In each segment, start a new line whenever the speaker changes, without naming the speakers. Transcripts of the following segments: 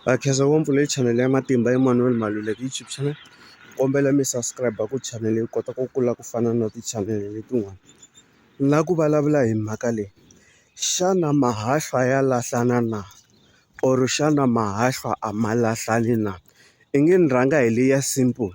Ha khensa ngopfu leyi chanel ya matimba Emmanuel Maluleke YouTube channel kombela mi subscribe ku channel yi kota ku kula ku fana na ti-channel letin'wana na ku vulavula hi mhaka leyi xana mahahlwa ya lahlana na or xana mahahlwa a ma lahlani na i nge ni rhanga hi leya simple.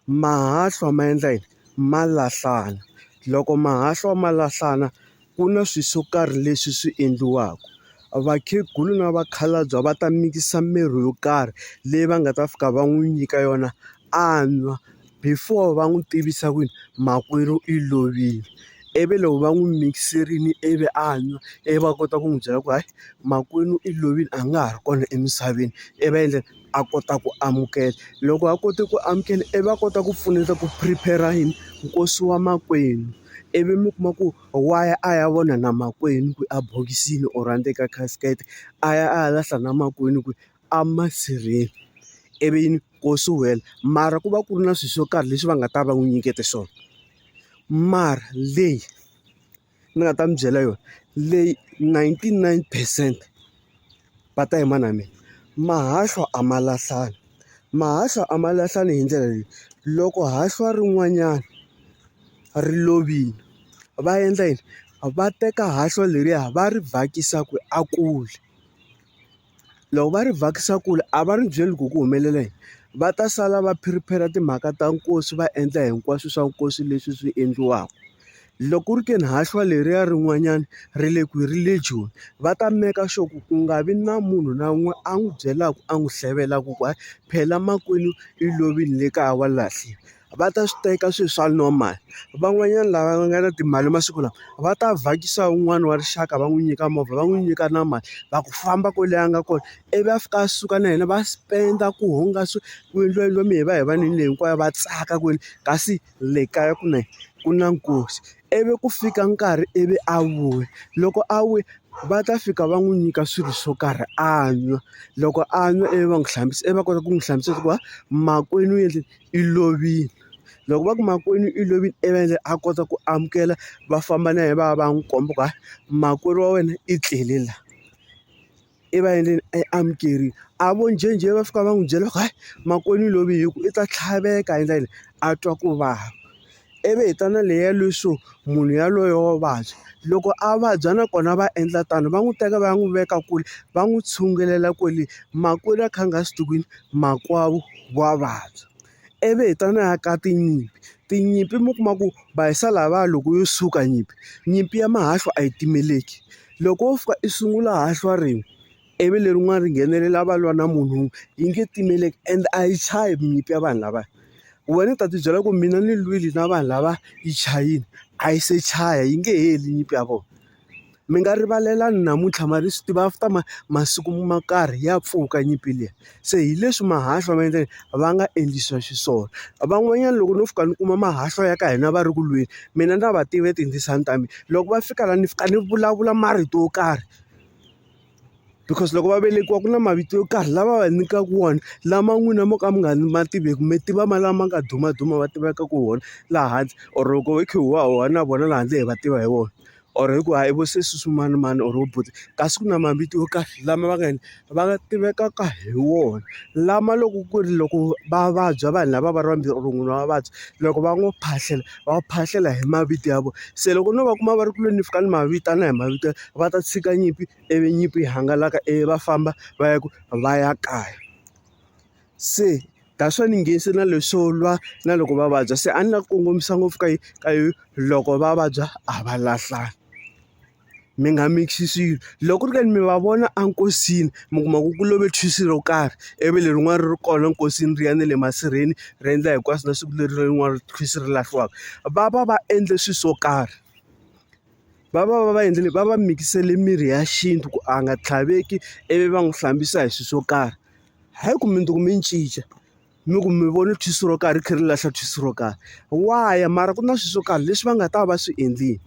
Mahahlwa ma endla yini? Ma lahlana. Loko mahahlwa ma lahlana ku na swilo swo karhi leswi swi endliwaka. Vakhegula na vakhalabye va ta mikisa mirhi yo karhi leyi va nga ta fika va n'wi nyika yona a nwa, before va n'wi tivisa ku yini makwerhu i lovile. Ivi loko va n'wi mikiserile ivi a nwa, ivi va kota ku n'wi byela ku hayi makwenu i lovile a nga ha ri kona emisaveni, ivi va endla yini? a kota ku amukela. Loko a kote ku amukela ivi a kota ku pfuneta ku prepare-ra yini? Nkosi wa makwenu. Ivi mi kuma ku wa ya a ya vona na makwenu ku ebokisini or endzeni ka casket, a ya a ya lahla na makwenu ku emasirheni. Ivi yini? Nkosi wu hela. Mara ku va ku ri na swilo swo karhi leswi va nga ta va n'wi nyikete swona. Mara leyi. ni nga ta mi byela yona leyi ninety nine percent va ta yima na mina mahahlu a ma lahlani mahahlu a ma lahlani hi ndlela leyi loko hahlwa rin'wanyana ri lovile va endla yini va teka hahlwa leriya va ri bakisa ku a kula. loko va ri vhakisa kule a va ri byeli ku ku humelela yini va ta sala va phiriphera timhaka ta nkosi va endla hinkwaswo swa nkosi leswi swi endliwaka loko ku ri ke ni hahlwa leriya rin'wanyana ri le kwihi ri le joni va ta meka sure ku ku nga vi na munhu na un'we a n'wi byelaka a n'wi hlevelaku ku hayi phela makwenu i lovile le kaya wa lahliwa. va ta swi teka swilo swa normal van'wanyana lava nga na timali masiku lawa va ta vhakisa un'wana wa rixaka va n'wi nyika movha va n'wi nyika na mali va ku famba kwale a nga kona ivi a fika a suka na yena va spend-a ku hungasa ku endliwa endliwa mi hi va hi vanhwini leyi hinkwayo va tsaka kwini kasi le kaya ku na yini ku na nkosi ivi ku fika nkarhi ivi a vuya loko a vuya va ta fika va n'wi nyika swilo swo karhi a nwa loko a nwa ivi va n'wi hlambisa ivi va kota ku n'wi hlambisa va ku hayi makwenu u endle. i lovile loko va ku makwerhu i lovile i va endlela a kota ku amukela va famba na yena va ya va ya n'wi komba ku hayi makwerhu wa wena i tlele la i va endleni i amukerile a vo njhenjhe va fika va n'wi byela ku hayi makwenu i lovile hi ku i ta tlhaveka hi ndlela leyi a twa ku vava. ivi hi ta na leyi ya leswo munhu yaloye wa vabya. Loko a vabya nakona va endla tano, va n'wi teka va ya n'wi veka kule, va n'wi tshungulela kwale. Makwerhu a kha a nga swi tivi ku yini makwavo wa vabya. Ivi hi ta na ya ka tinyimpi. Tinyimpi mi kuma ku va hisa lavaya loko yo suka nyimpi, nyimpi ya mahahlu a yi timeleki. Loko wo fika i sungula hahlwa rin'we. ivi lerin'wana ri nghenelela va lwa na munhu wun'we yi nge timeleki and a yi chayi minyimpi ya vanhu lavaya wena ni ta ti byela ku mina ni lwile na vanhu lava yi chayini a yi se chaya yi nge heli nyimpi ya vona mi nga rivalelani namuntlha mara hi swi tiva after ma masiku ma karhi ya pfuka nyimpi liya se hi leswi mahahlu ma endleke va nga endlisa xiswona van'wanyana loko no fika ni kuma mahahlu ya ka hina va ri ku lweni mina na va tive tindzisana ta mina loko va fika la ni fika ni vulavula marito yo karhi. because loko va velekiwa ku na mavito yo karhi lava va nyikaka wona lama n'wina mo ka mi nga ma tiveki mi tiva ma lama nga dumaduma va tivekaka wona laha hansi or loko hi kha hi huhwa hi huhwa na vona laha handle hi va tiva hi wona or hi ku hayi vo sesi swimanimani or vo buti kasi ku na mavito yo karhi lama va nga yini va nga tivekaka hi wona lama loko ku ri loko va vabya vanhu lava va ri vambirhi or munhu wa vabya loko va n'wi phahlela. va phahlela hi mavito ya vona se loko no va kuma va ri ku lweni fika ni ma vitana hi mavito va ta tshika nyimpi ivi nyimpi yi hangalaka ivi va famba va ya ku va ya kaya se that's why ni nge se na leswo lwa na loko va vabya se a ni la ku kongomisa ngopfu ka ka yo loko va vabya a va lahlani. mi nga mix-i swilo. Loko ku ri ke ni mi va vona enkosini mi kuma ku ku love thwisi ro karhi, ivi lerin'wani ri ri kona nkosini ri ya na le masirheni ri endla hinkwaswo na siku leri rin'wana thwisi ri lahliwaka. Va va va endle swilo swo karhi, va va va va endlile va va mikisele mirhi ya xintu ku a nga tlhaveki ivi va n'wi hlambisa hi swilo swo karhi. Hayi ku mundzuku mi cinca. mi ku mi vone thwisi ro karhi ri kha ri lahla thwisi ro karhi why mara ku na swilo swo karhi leswi va nga ta va swi endlile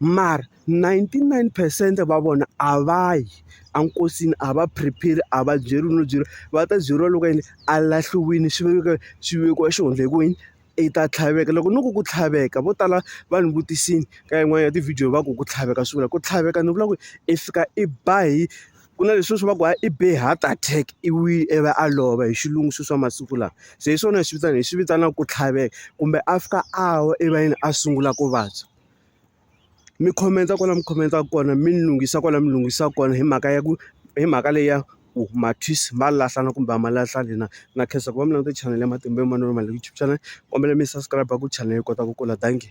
mara ninety nine percent va vona a va yi enkosini a va prepare a va byeriwi no byeriwa va ta byeriwa loko yini a lahliwile swi vekiwa swi vekiwa xi hundza hi ku yini i ta tlhaveka loko no ku ku tlhaveka vo tala va ni vutisile ka yin'wani ya ti-video va ku ku tlhaveka swi vula ku tlhaveka ni vula ku i fika i ba hi. Ku na leswiya swa ku hayi i be heart attack i wi i va a lova hi xilungu sweswi swa masiku lawa se hi swona hi swi vitana hi swi vitanaka ku tlhaveka kumbe a fika a wa erivaleni a sungula ku vabya mi khomensa kwala mi khomensa kona mi lunghisa kwala mi lunghisa kona hi mhaka ya ku hi mhaka leyi ya ku mathwisi ma lahlana kumbe a ma lahlani na na khensa ku va mi languta chanel ya matimba ya manana ma YouTube channel kombela mi subscribe ku chanel yi kota ku kula dankie.